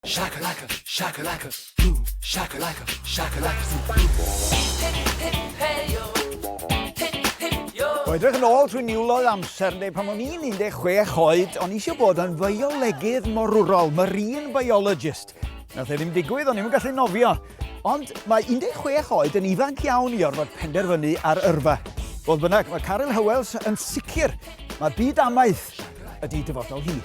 Shakalaka, shakalaka, boom, shakalaka, shakalaka, zoom, boom. Hip, hip, hip, hey yo. Hip, hip, yo. O edrych yn ôl trwy niwloedd amser, neu pan o'n i'n 16 oed, o'n i eisiau bod yn fiolegydd morwrol, marine biologist. Nath e ddim digwydd, o'n i'm yn gallu nofio. Ond mae 16 oed yn ifanc iawn i orfod penderfynu ar yrfa. Fodd bynnag, mae Caryl Hywels yn sicr mae byd amaeth ydy dyfodol hi.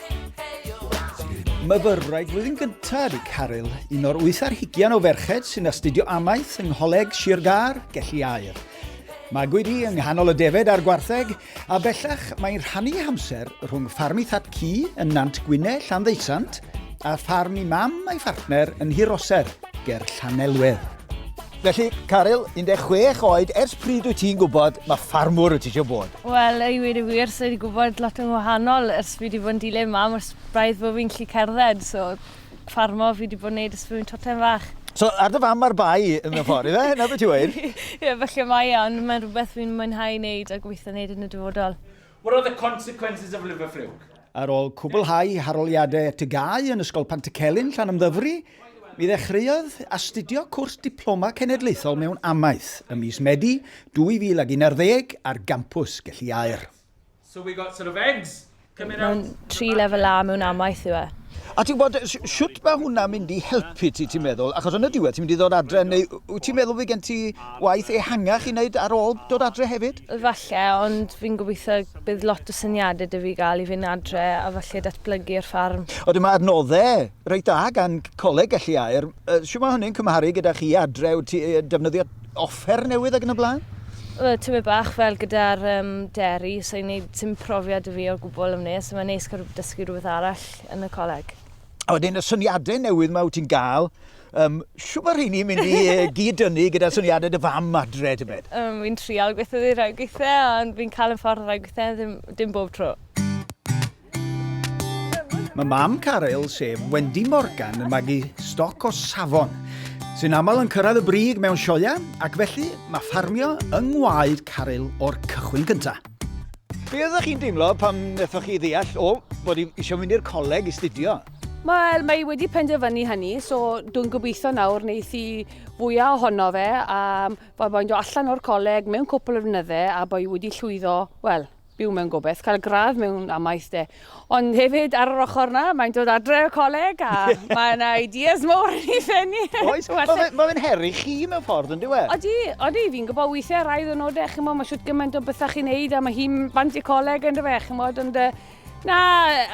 Myfyrwraig flwyddyn gyntaf ydy Caryl, un o'r wyth ar hugian o ferched sy'n astudio amaeth yng Ngholeg Sir Gâr, Gelli Aur. Magwyd hi yng nghanol y defaid a'r gwartheg, A bellach, mae'n rhannu ei hamser rhwng ffarm ei thad cu yn Nant Gwynne, Llanddeutsant, a ffarm ei mam a'i phartner yn Nhuroser, ger Llanelwedd. Felly, Caryl, 16 oed, ers pryd wyt ti'n gwybod mae ffarmwr wyt ti eisiau bod? Wel, i wir y wir, so wedi gwybod lot yn wahanol ers fi wedi bod yn dilyn mam ers braidd bod fi'n gallu cerdded, so ffarmo fi wedi bod yn neud ers bod tocsen fach. So ar dy fam ar bai yn y ffordd, ife? Hynna beth ti'n weud? Ie, falle mae e, ond mae'n rhywbeth fi'n mwynhau wneud a gobeithio wneud yn y dyfodol. What are the consequences of liver fluke? Ar ôl cwblhau haroliadau TGAU yn Ysgol Pantycelyn, Llanymddyfri, mi ddechreuodd astudio cwrs Diploma Cenedlaethol mewn Amaeth ym mis Medi 2011 ar gampws Gelli Aur. So we got sort of eggs coming out. Mae'n tri lefel A mewn amaeth yw e. A ti'n gwybod, siwt mae hwnna'n mynd i helpu ti, ti'n meddwl? Achos yn y diwedd, ti'n mynd i ddod adre, neu wyt ti'n meddwl fi gen ti waith ehangach i wneud ar ôl dod adre hefyd? Falle, ond fi'n gobeithio bydd lot o syniadau dy fi gael i fynd adre a falle datblygu'r ffarm. Oedden mae adnoddau reit da gan Coleg Gelli Aer. Siw mae hynny'n cymharu gyda chi adre, wyt ti defnyddio offer newydd ac yn y blaen? Wel, tymed bach fel gyda'r um, deri, so i'n gwneud sy'n profiad y fi o'r gwbl am nes, so mae'n neis cael dysgu rhywbeth arall yn y coleg. A wedyn y syniadau newydd mae wyt ti'n gael, um, siw mae rheini mynd i uh, gyd-dynnu gyda syniadau dy fam adre, ti'n byd? Um, fi'n trial gweithio ddi rhai gweithiau, ond fi'n cael yn ffordd rhai gweithiau, ddim, dim bob tro. Mae mam Caryl, sef Wendy Morgan, yn magu stoc o safon, sy'n aml yn cyrraedd y brig mewn sioeau, ac felly mae ffarmio yng ngwaed Caryl o'r cychwyn cyntaf. Be oeddech chi'n deimlo pam wnaethoch chi ddeall, o, bod i eisiau mynd i'r coleg i studio? Wel, mae wedi penderfynu hynny, so dwi'n gobeithio nawr wneud i fwyaf ohono fe, a bod boi'n dod allan o'r coleg mewn cwpl o flynyddau, a bod wedi llwyddo, wel, byw mewn gobaith, cael gradd mewn amaeth de. Ond hefyd, ar yr ochr na, mae'n dod adre o coleg a mae yna ideas mor yn ei ffenni. Oes, mae fe'n heri chi mewn ffordd yn diwe? Odi, odi, fi'n gwybod weithiau rai ddynodau, chi'n mo, mae siwt gymaint o bethau chi'n neud a mae hi'n bant i coleg yn diwe, chi'n mo, ond na,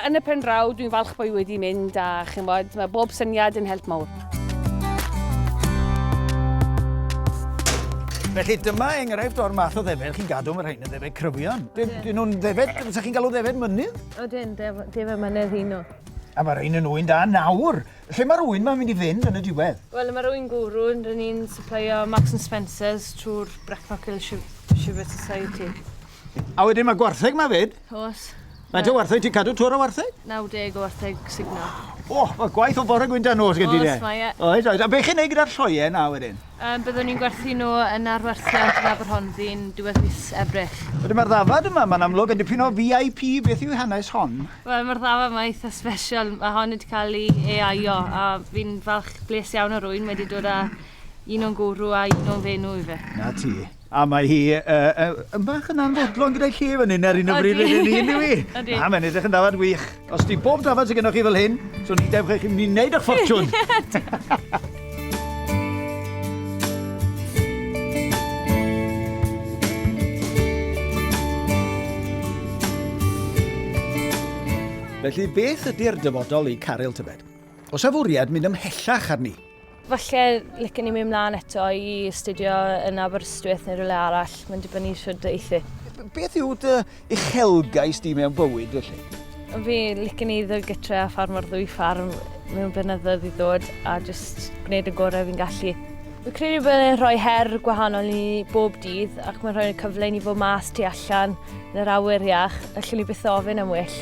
yn y pen draw, dwi'n falch bod i wedi mynd a chi'n mo, mae bob syniad yn help mawr. Felly dyma enghraifft o'r math o ddefed chi'n gadw, mae rhain yn ddefed cryfion. Dyn yeah. nhw'n ddefed, yeah. fysa chi'n galw ddefed mynydd? O dyn, ddefed mynydd un nhw. A mae rhain yn wy'n da nawr. Lle mae'r wy'n mae'n mynd i fynd yn y diwedd? Wel, mae'r wy'n gwrw yn rhan ni'n supplio Marks and Spencers trwy'r Brecknock Hill Shiver Society. A wedyn mae gwartheg mae fyd? Os. Faint o wartheg ti'n cadw? Twr o wartheg? 90 o wartheg signo. O, mae gwaith o bore gwynta nos gen ti de. Oes, mae e. Oes, oes. A beth chi'n neud gyda'r lloie na wedyn? Um, byddwn ni'n gwerthu nhw yn arwerthiant yn Aberhonddu'n diwedd mis Ebrill. Wedyn mae'r ddafad yma, mae'n amlwg yn dipyn o VIP, beth yw hanes hon? Wel, mae'r ddafad yma eitha special, mae hon wedi cael ei EIO, a fi'n falch bles iawn o rwy'n wedi dod â un o'n gwrw a un o'n fenw i fe. Na ti. A mae hi yn bach yn anfodlon gyda'i lle fan hyn ar un o bryd yn un un yw i. Na, mae'n edrych yn dafad wych. Os di bob dafad sy'n gennych chi fel hyn, so ni dewch eich mynd i wneud eich ffortiwn. Felly, beth ydy'r dyfodol i Caryl Tybed? Oes a fwriad mynd ymhellach arni? Falle licen i mynd mlaen eto i astudio yn Aberystwyth neu rhywle arall. Mae'n dibynnu siwrd y eithu. Beth yw dy uchelgais di mewn bywyd felly? Fi licen i ddod gytre a ffarmo'r ddwy ffarm mewn blynyddoedd i ddod a jyst gwneud y gorau fi'n gallu. Fi credu bod e'n rhoi her gwahanol i bob dydd ac mae'n rhoi cyfle i ni fod mas tu allan Yn yr awyr iach, allwn ni byth ofyn am well.